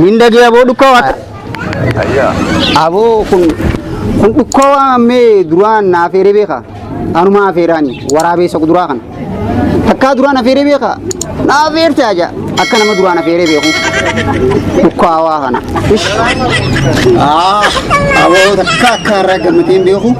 Mindagee aboo dhukkoo akka. Aboo kun kun dhukkoo ammee duraan na afeeree beeka. Anuma afeeraani waraabeessa kuduraa kana. Takkaa duraan afeeree beeka. Na afeerte aja akka nama duraan afeeree beeku. Dhukkoo hawaa kana. Aboo takkaa akka irraa gammadeen beeku.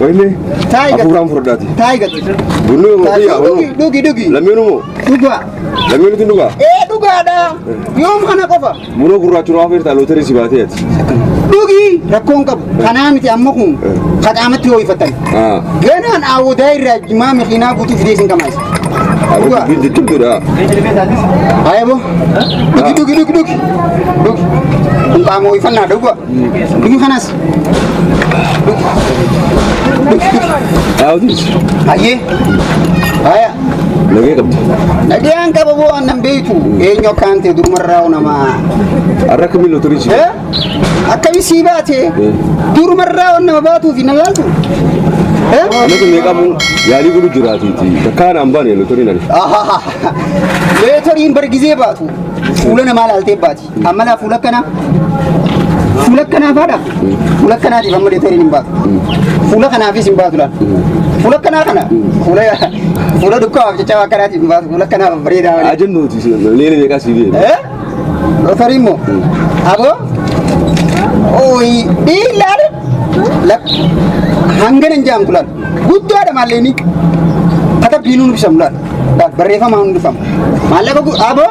Wayne, Taayi gad- afuuraan furdhaati. Taayi gad. Bunni moo Taayi biyyaa dhugi bunni? dhugi dhugi. Lammiinu moo? Dhugaa. Lammiinu tun dhugaa? Ee dhugaadha. Yoom kana qofa. Bunoo gurraachuun waa feertaa lootarii si baatee ati. Dhugi rakkoon qabu. Kanaa miti amma kun kaqaamatti hoo'ifatan. Ah. Ganaan awwadaa irraa jimaa makiinaa guutuu fidee isin qamaasa. Abbo Dhugaa. dubbiin jajjabduudha. Ayabo. Dhugi dhugi dhugi dhugi. Dhugi. Kun qaama hoo'ifannaa dhugaa. Dhugi kanas. Hayyee. Haya. Nagee qabdi. Nagayaan qaba boo annan beektu. Eenyu akkaan ta'e durumarraa namaa. Har'a kamii lotorii si. Eh? Akkami sii baate? Durumarraa waan nama baatuufi na laaltu. Eh? Nagee meeqamu yaalii godhu jiraatiiti. Takkaan aan baane lotorii nani. Ahaha. Leetoriin bargizee baatu. Fuula namaa laaltee baati. Ammalaa fuula akkanaa fuula akkanaa faadha fuula akkanaatiif amma deeteriin hin baatu fuula kanaafis hin baatu laal fuula akkanaa kana fuula fuula dukkaaf jecha akkanaatiif hin baatu fuula akkanaa bareedaa malee. Ajannooti leela meeqaa sii biyya. Eh? Lotarii immoo aboo ooyi dhiilaan hangana hin jaamtu laal guddaadha maallee ni katabbiinuu nubisamu laal barreeffamaa hundifamu maallaqa aboo.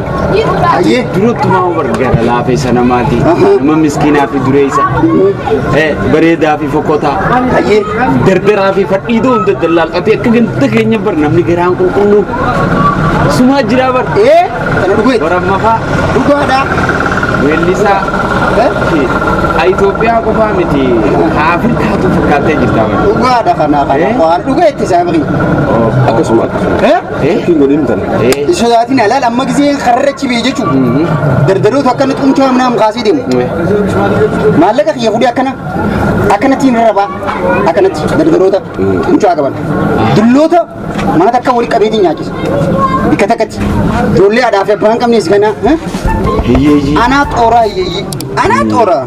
Ayyee. Duratti maama bargaara laafeessa namaati. Nama miskiinaa fi dureessa. Eh, Bareedaa fi fokotaa. Ayyee. Dardaraa fi fadhiidoo hunda dallaalqatee akka ganda keenya bar namni garaan qulqulluu. Sumaa jiraa bar. Ee. Kana dhugu jechuudha. Warra mafaa Dhugaadhaa. weellisaa Eh? fi Itoophiyaa qofaa miti. Haa Afrikaatu fakkaattee jirtaa bar. Dhugaadha kana kana. Eh? Waan dhuga itti isaa baqi. Akkasuma. Eh? Hin godhin tan. Sodaatiin alaal amma gisee karra cibee jechuun dardaroota akkana xumtee hamna ham kaasee deemu. Maallaqa kiyya fudhee akkana akkanatti hin rarrabaa akkanatti dardaroota mucaa qaban. Dulloota mana takka walitti qabeetiin nyaachisa. Bikka takkatti ijoollee haadhaa fi abbaa hin qabnees kana. Hiyyeeyyii. Anaa xooraa hiyyeeyyii. Anaa xooraa.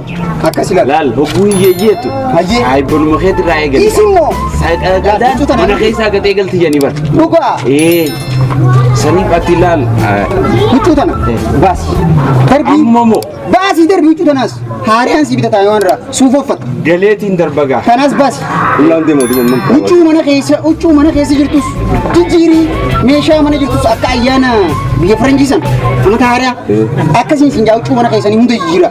Akkas ilaali. Laal hogguu hiyyeeyyii jettu. Hayyee. Saayibbanuma keetti irraa eegali. Isimmoo Saayidhaan mana keessaa gatee galti jedhanii bar. dhugaa Ee saniif ati laal. huccuu tana baasi. Darbii Amma moo baasii darbii huccuu tanaas haariyaan si bitataa waan irraa suufa uffata. galeetiin darbagaa. Kanaas baasi. Ulaan deema duuba. Huccuu mana keessa huccuu mana keessa jirtus jijjiirii meeshaa mana jirtus akka ayyaana biyya faranjii sana amata haariyaa akkasiin siin jaa huccuu mana keessanii hunda jijjiira.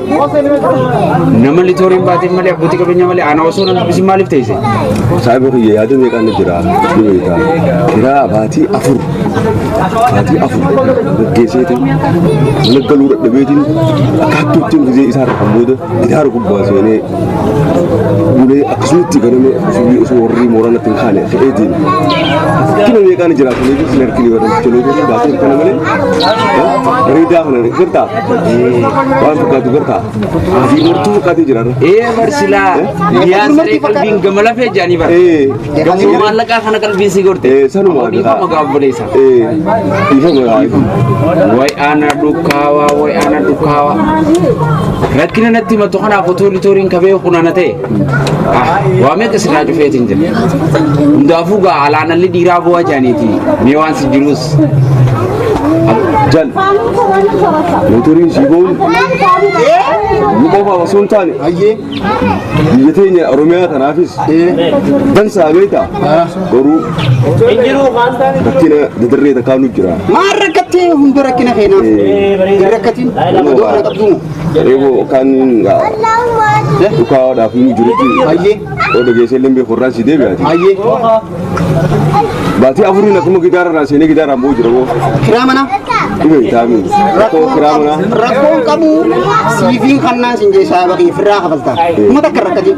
Nama litooriin baateen malee abbootii qabeenyaa malee ana osoo nan dubbisin maaliif teesse? Saayiba kiyya yaada meeqaan na jira ni beektaa. Kiraa baatii afur baatii afur gaggeesseetu mana galuu dadhabeetiin akkaattuu ittiin gizee isaa kan booda gitaara gubbaa seenee bulee akkasumatti ganame ofii osoo warri mooraa natti hin kaane fe'ee deeme. Kina meeqaan jiraatanii fi sin harkini warra jechuu baatiin kana malee bareedaa kana gartaa. Waan fakkaatu gartaa? Asii martuu fakkaatee jira. Ee bar silaa biyyaa saree qalbiin gama lafee jaanii bar. Ee. Gamoo maallaqaa kana qalbiin si gorte. Ee, sanuma Ammoo dhiifama gahaa. gaabboleessa. Ee. Dhiifama gahaa. Way ana dhukaawa way ana dhukaawa. Rakkina natti himatu kanaaf otoo litooriin kabee kunana ta'e. Waa meeqa sirraa cufeetiin jira. Hundaafuu gaa alaanalli dhiiraa bu'aa jaaniiti. Mee waan si jiruus. Jal. Motoriin si boon. Nu qofa osoo hin taane. Biyya teenya Oromiyaa tanaafis. Dansaa beektaa. Garuu. Rakkina dadarree takkaa nu jira. Maal rakkattee hunda rakkina keenaa? Hin rakkatiin. Nama qabduun. Eebo kan dhukaadhaaf ni jirutti oda geessee illee beeku irraan si deebi'aati. Baatii afuriin akkuma gidaara irraa seenee gidaara ammoo jira boo. Kiraa manaa. Dhibee taa'anii. Rakkoo kiraa manaa. Rakkoon qabu siifiin kannaan sin jeessaa bakee firraa kafaltaa. Kuma takka rakkatiin.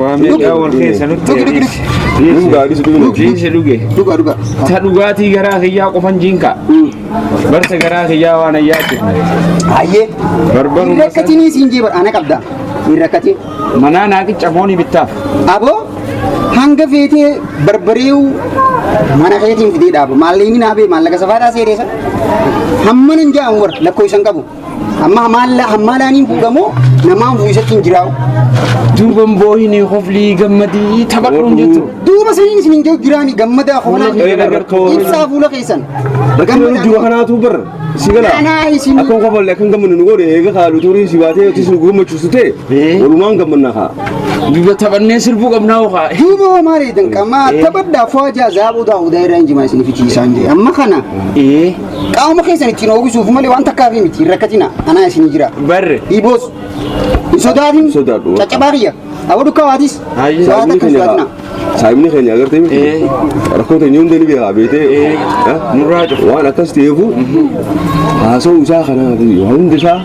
Waa meeqaa wal keessa nutti dhiisi. Dhugaa dhiisi dhugaa. Dhiisi dhuge. Dhugaa dhugaa. Ta dhugaatii garaa kiyyaa qofan jiinka. Barsa garaa kiyyaa waan ayyaatti. Hayyee. Barbaruu Hin rakkatinii siin jee ana qabda. Hin rakkatin. Manaa naa qicca foonii bittaaf. Aboo hanga feetee barbareewu mana keetiin fidee dhaaba. Maallaqni naa bee maallaqa safaadhaa seereessa. Hamma nan ja'amu bar lakkoo isan qabu. Amma hamaalaa hamaalaa niin fuudhamoo namaan fuudhisatti hin jiraa'u. Duuban boohinii koflii gammadii taphadhuun jettu. Duuba saniin isin hin jiru jiraani gammadaa koolaa Fuula kee gartoo. ibsaa fuula keessan. Bakka yeroo duuba kanaatu bar si gala. Kanaa isin- Akka kofalle akka hin gammanne nu godhe eega kaalu turii si baatee yookiis nu gammachiisu ta'e Ee. walumaan gammanna kaa. Duuba taphannee sirbuu qabnaa hokaa. Duuba hoo maal eedan qamaa taphadhaa fo'aa jaa zaabuu daawudaa irraa hin jimaa isin fichiisaan jee amma kana Ee. Qaama keessan ittiin oogisuuf malee waan takkaaf miti hin rakkatina anaa isinii jira. Barre. Dhiiboos. Hin sodaatin. Sodaadhu. Caccabaa kiyya. Aboo dukkaa waatis. Haayyi. Waa takka hin sodaatina. Saayimni keenya agartee miti. Ee. Rakkoo teenya hunda ni beekaa beetee. Ee. Nurraa cufa. Waan akkas ta'eefu haasa'uu isaa kana hunda isaa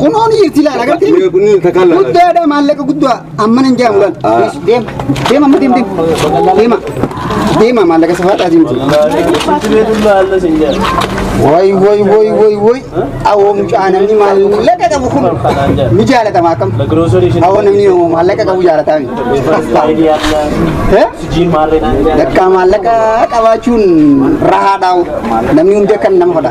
Kunoo ni jirti ilaala agartee? Mee kun ni takalla. Guddaadha maallaqa guddaa amma nan jaamu laal. Ah. Yes, Deem deem amma deem deem. Deema deema maallaqa safaadhaa deemtu. Woy woy woy woy woy awoo mucaa namni maallaqa qabu kun ni jaalatama akkam? Awoo namni yommuu maallaqa qabu jaalataa mi? Eh? Yakka maallaqa qabaachuun rahaadhaa namni hundi akka nama fadha.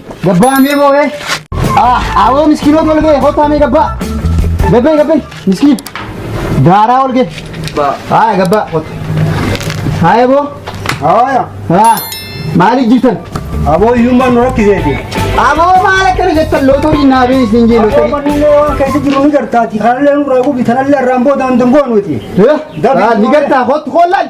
Gabbaa mee boo'ee. Awoo miskiinoo tol ga'e kottaa mee gabbaa. Gabbee gabbee miskiin. Gaaraa ol ga'e. Haaya gabbaa kotta. Haaya boo. Haaya. Haa maaliif jirtan? Aboo hiyyummaan nu rakkiseeti. Aboo maal akkana jettan lootorii naa bee isin jee Aboo lootorii. manni waan keessa jiru ni gartaati. Kanallee nu raaguufi tanallee irraan booda hin dangoonu nuti. Haa ni gartaa kottu koollaan.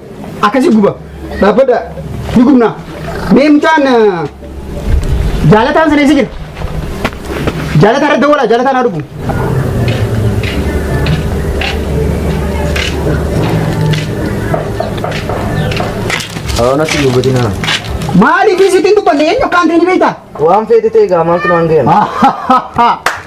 akkasi guba dhaabbadha ni gubna mee mucaan eh, jaalataan sana isa jira jaalataa irratti dawwala jaalataan haa dhufu Aanatti gubatina. maaliif isitiin dubbanne eenyu akkaan ta'e ni beektaa Waan feete ta'e gaa maaltu naan gahe.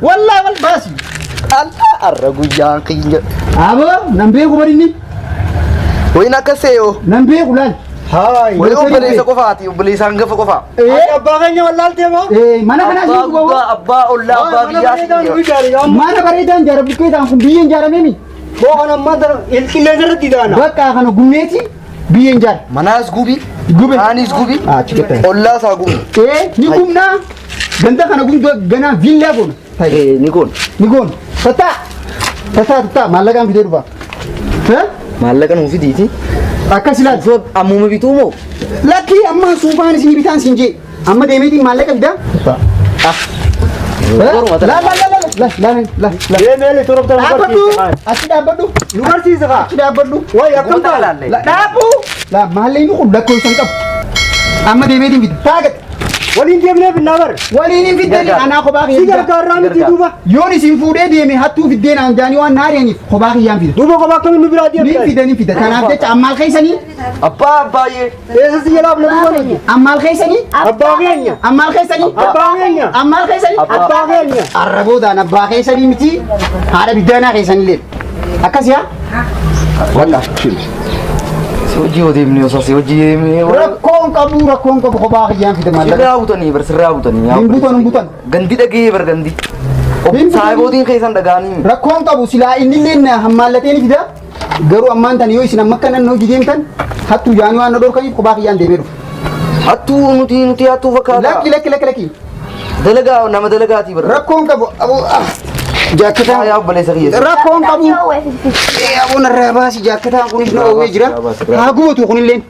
Wallaa wal baasi. Allaa arra guyyaa kiyya. Aboo nan beeku barinni. Wayin akka seeyoo. Nan beeku laal. Haay. Wayin obboleessa qofaati obboleessa hangafa qofaa. Ati abbaa keenya wallaaltee moo? Mana kanaa Abbaa siif guddaa abbaa ollaa abbaa biyyaa siif Mana bareedaan jaara buqqeetaan kun biyyeen jaaramee mi? Boo kan ammaa ilqillee irratti daana. Bakka kana gumneeti. Biyyeen jaal. Manaas gubi. Gube. Aanis gubi. Ah, achi keessa. Ollaa isaa gubi. Ee ni gubna. Ganda kana gubna ganaa viillaa goona. Ta'i. Ni goona. Ni goona. Tataa. Tataa tataa maallaqaan fidee dhufa. Hee? Maallaqa nuuf fidiiti. Akkas ilaali. Ammuma bituu moo? Lakkii ammaa suufaan isin bitaan siin jee. Amma deemeetiin maallaqa fidaa? Deemeeli turobta Dhaabbadhu! Achi dhaabbadhu! Nu barsiisa kaa. Achi dhaabbadhu! Wayi akkam Wanta ta'a? laalle. La- Dhaabu! La maalleen kun lakkoofsa hin qabu. Amma deemeetiin fida. Taagate! Waliin deemnee binnaa bar. Waliin hin fiddanii Gargaara. anaa kophaa Si kiyyaa fidaa. gargaarraa miti Gargaara. duuba. Yoon isin fuudhee deeme hattuu fiddeen aan jaanii waan naari'aniif kophaa kiyyaan fida. Duuba kophaa akkamiin nu biraa Ni deemtan? fida ni fida. Kanaaf jecha ammaal keessanii Abbaa abbaayyee. Eessa si jalaa abna duuba nuti? Ammaal keessanii? Abbaa keenya. Ammaal keessanii? Abbaa keenya. Ammaal keessanii? Abbaa keenya. Arra boodaan abbaa keessanii miti haadha biddaanaa keessanii leen. Akkas yaa? Walla. Si hojii yoo deemne osoo si hojii deemne. Rakkoon qabu rakkoon qabu kophaa kiyyaan fida maallaqa. Sirraa butanii bar sirraa butanii. Hin butan hin butan. Gandi dhagee bar gandi. Saayibootiin keessan dhagaanii. Rakkoon qabu silaa inni illee hammaallateen fida. Garuu ammaan tan yoo isin amma akka nannoo hojii deemtan hattuu jaanii waan na dhorkaniif kophaa kiyyaan deemee dhufu. Hattuu nuti nuti hattuu fakkaata. Lakki lakki lakki lakki. Dalagaa nama dalagaatii bara. Rakkoon qabu aboo ah, jaakketaan. Yaa obboleessa kiyya. Rakkoon qabu. Aboo narraa baasi jaakketaan kunis na oowwee jira. Haa gubatu kunilleen.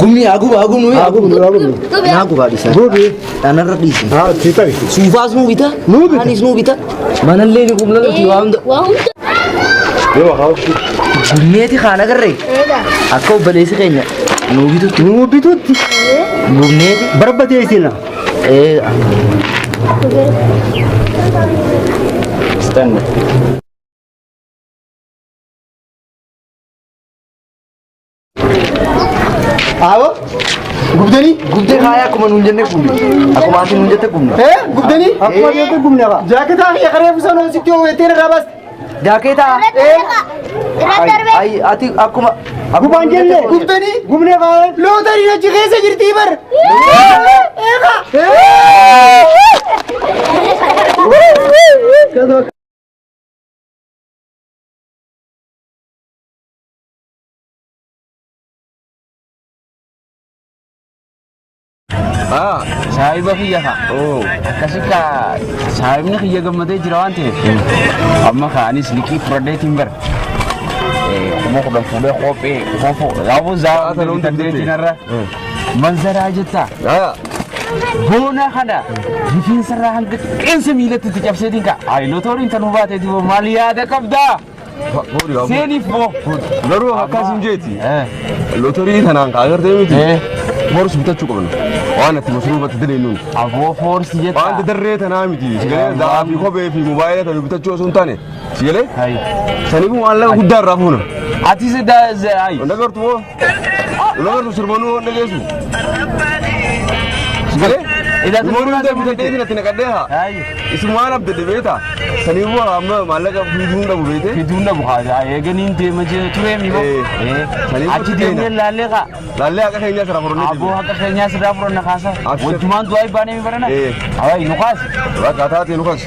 Gumni haa guba haa gubnu haa gubnu haa gubnu. Naa gubaa dhiisaa. Gubi. Dhanarra dhiisi. Haa itti ta'i. Suufaas nuu bita. Nuu bita. Anis nuu bita. Manallee ni gubna nuti waa hunda. Waa hunda. Yoo haa ofii. Gumneeti kaan agarree. Eegaa. Akka obboleessi keenya nuu bitutti. Nuu bitutti. Gumneeti. Barbadee isin. Ee. Standard. Aawoo gubdanii Gubdee kaayaa akkuma nuun jennee gubne. Akkuma ati nuun jette gubne. ee gubdanii Akkuma jettee gubne qaba. jaaketaa fi ekaree busanoo sitti hoo'ettee irraa baas Jaakeetaa. Ayi ati akkuma. Gubaan jenne. gubdanii Gubne kaayaa. lootariin achi keessa jirtii bar eegaa Ah, saahiba kiyya ka. Oo. Akkasi ka saahibni kiyya gammadee jira waan ta'eef. Amma ka anis liqii fudhadheetiin bar. Eh, kuma kudhan fuudhee kophee koofoo. Gaafuu Sa'aa zaafuu sana hunda danda'ee bitee. jinarra. Manzaraa jetta. Ah, Boona kana rifeensa irraa hanga qeensa miilatti itti cabseetiin ka'a. Ayi lootooriin tanuu baateeti boo maal yaada qabdaa? Seeniif boo. Garuu akkas hin jeeti. Lootorii tanaan kaa agartee miti. Boorsi bitachuu qabna. Waan itti masruubatti daleenuun. Aboo foorsi jettaa. Waanti darree tanaa miti. Sigalee daa'aa fi kophee fi mobaayila tanu bitachuu osoo hin taane. Sigalee. Saniifuu maallaqa guddaa irraa fuuna. Atis daa ayi. Nagartu moo? Nama nu sirbanuu waan dhageessu. Sigalee? Ilaa Nama hundi sirbanaa bitatee sirbanaa. natti naqadhee haa. Ayyo. Isumaan abdadde beektaa? Sanii immoo amma maallaqa fiduun dhabu beekte? Fiduun dhabu haa eeganiin deema jee turee mi hoo? Eh. Eh. Sanii Achi gosa deemnee keenya. laallee kaa. Laallee haqa keenyaa sirraa fudhannee Aboo deemne. haqa keenyaa sirraa furanna kaasa. Abshir. Wajjumaan du'aa ibbaanee mi barana? Eh. Awaayi nu kaasi. Rakkaataa ta'e nu kaas.